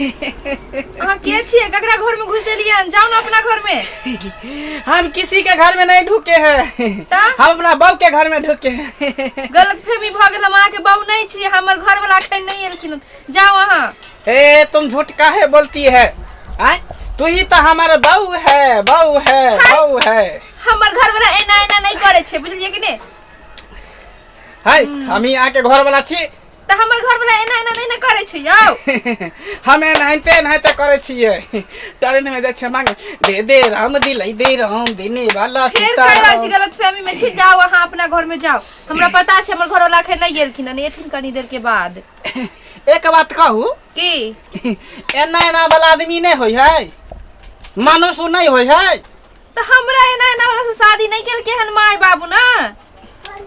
अहाँ के छियै ककरा घर में घुस एलियै हन? जाउ ने अपना घर में हम किसी के घर में नहीं ढुके हैं तऽ? हम अपना बहू के घर में ढुके हैं गलत फहमी भऽ गेल हम अहाँके बाबू नहि छी हमर घर वाला अखन नहि एलखिन हन। जाउ अहाँ ए तुम झूठ काहे बोलती है आय तू ही तो हमारा बहू है बहू है बहू है हमर घर वाला एना एना नहि करै छै बुझलियै कि नहि है हम ही आके घर वाला छी तऽ हमर घर वाला एना एना नहि ने करै छै यौ हम एनाहिते एनाहिते करै छियै ट्रेन में जाइ छियै मांगे दे दे राम दिलाई दे राम देने वाला फेर सीता कहि रहल छी राम गलत फहमी में छी जाओ अहाँ अपना घर में जाओ हमरा पता छै हमर घर वाला अखन नहि गेलखिन हन एथिन कनी देर के बाद एक बात कहू की एना एना वाला आदमी नहीं होय है मानुष नहीं होय है तो हमरा एना एना वाला से शादी नहीं केल केहन माय बाबू ना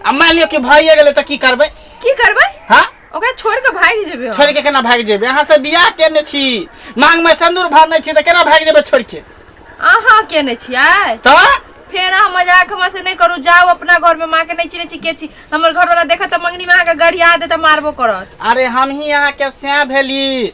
अब मान लियो कि भाइए गेले तो की करबे की करबे हाँ ओकरा छोड़ के भाग जेबे हम। छोड़ के केना भाग जेबे यहाँ से बियाह केने छी मांग में सिंदूर भरने छी तो केना भाग जेबे छोड़ के अहाँ केने छियै तो फेर अहाँ मजाक हमरा से नहीं करू जाओ अपना घर में माँ के नहीं चिने छी के छी हमर घर वाला देखत त मंगनी में अहाँ के गड़िया दे त मारबो करत अरे हम ही यहाँ के स्या भेली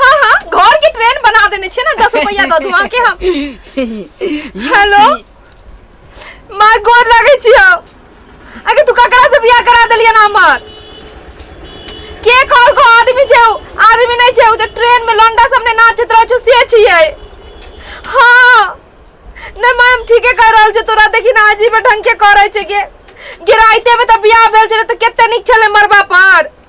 हाँ हाँ घर के ट्रेन बना देने छे ना दस रुपया दो दुआ के हम हेलो माँ गोर लगे छी हो अगर तू ककरा से बियाह करा देलिया ना हमार के कॉल को आदमी छे उ? आदमी नहीं छे उ जे ट्रेन में लंडा सबने नाचत रहो छो से छिए हाँ नहीं माँ हम ठीके कर रहल छे तोरा देखी ना आजी में ढंग के करे छे के गिराइते में तो बियाह भेल छे तो केते निक छले मरबा पर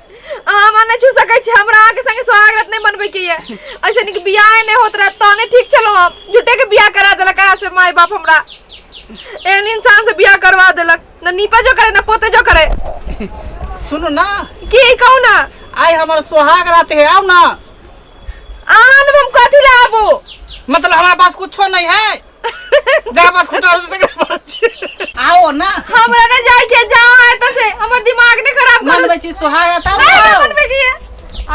अहाँ माने छू सकै छी हमरा अहाँके संगे स्वागत नहीं मनबे के ये ऐसे निक बियाह नहीं होत रहे तने ठीक चलो हम झूठे के बियाह करा देलक कहा से माय बाप हमरा एहन इंसान से बियाह करवा देलक ना नीपा जो करे ना पोते जो करे सुनो ना की कहू ना आइ हमर सोहाग रात है आउ ना अहाँ ने हम कथी लाबू मतलब हमारे पास कुछो नहीं है गाबस खुटा हो जते गाबस आओ ना हमरा ना जाए के जाओ आए तो से हमर दिमाग ने खराब कर मनबै छी सोहाग रात आओ नहीं ना। बनबे के है।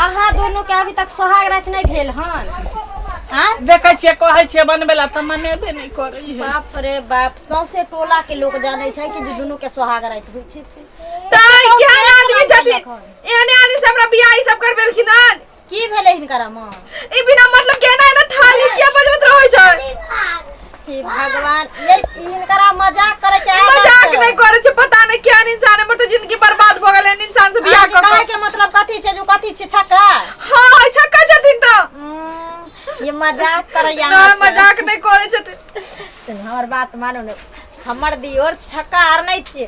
अहाँ दोनों के अभी तक सोहाग रात नहीं भेल हन आ देखै छियै कहै छियै बनबै ला तऽ मनेबे नहि करै है बाप रे बाप सौंसे टोला के लोग जाने छै कि जे दुनू के सोहाग रात होइ छै से ताई क्या आदमी छथिन एहने आदमी से हमरा बियाह ई सब करबेलखिन हन की भेलै हिनकर अम्मा ई बिना मतलब के ना ना थाली किया बजबत रहै छै हे भगवान ये हिनकर मजाक करे के मजाक नहीं करे छै पता नहीं क्या इंसान हमर तो जिंदगी बर्बाद भ गेलै इंसान से बियाह क के मतलब कथि छै जो कथि छै छक्का हां छक्का छथिन त हम्म, ये मजाक करे या ना मजाक नहीं करे छथिन सुन हमर बात मानो ने हमर दियोर छक्का आर नहीं छै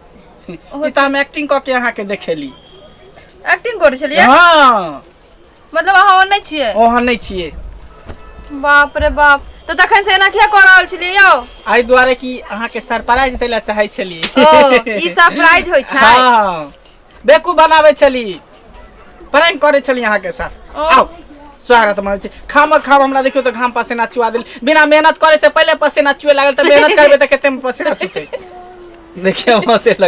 ई तऽ हम एक्टिंग कऽ के अहाँके देखेली एक्टिंग करै छलियै हँ मतलब अहाँ ओहन नहि छियै ओहन नहि छियै बाप रे बाप तऽ तखन से एना किया कऽ रहल छलियै यौ एहि दुआरे कि अहाँके सरप्राइज दै लए चाहै छली ओ ई सरप्राइज होइ छै हँ बेकू बनाबै छली प्रैंक करे छली अहाँ के साथ ओ। आओ स्वागत मानै छी खाम खाम हमरा देखियो तऽ घाम पसेना चुआ देल बिना मेहनत करे से पहिले पसेना चुए लागल तऽ मेहनत करबे तऽ कते में पसेना चुते देखिए वहाँ से लग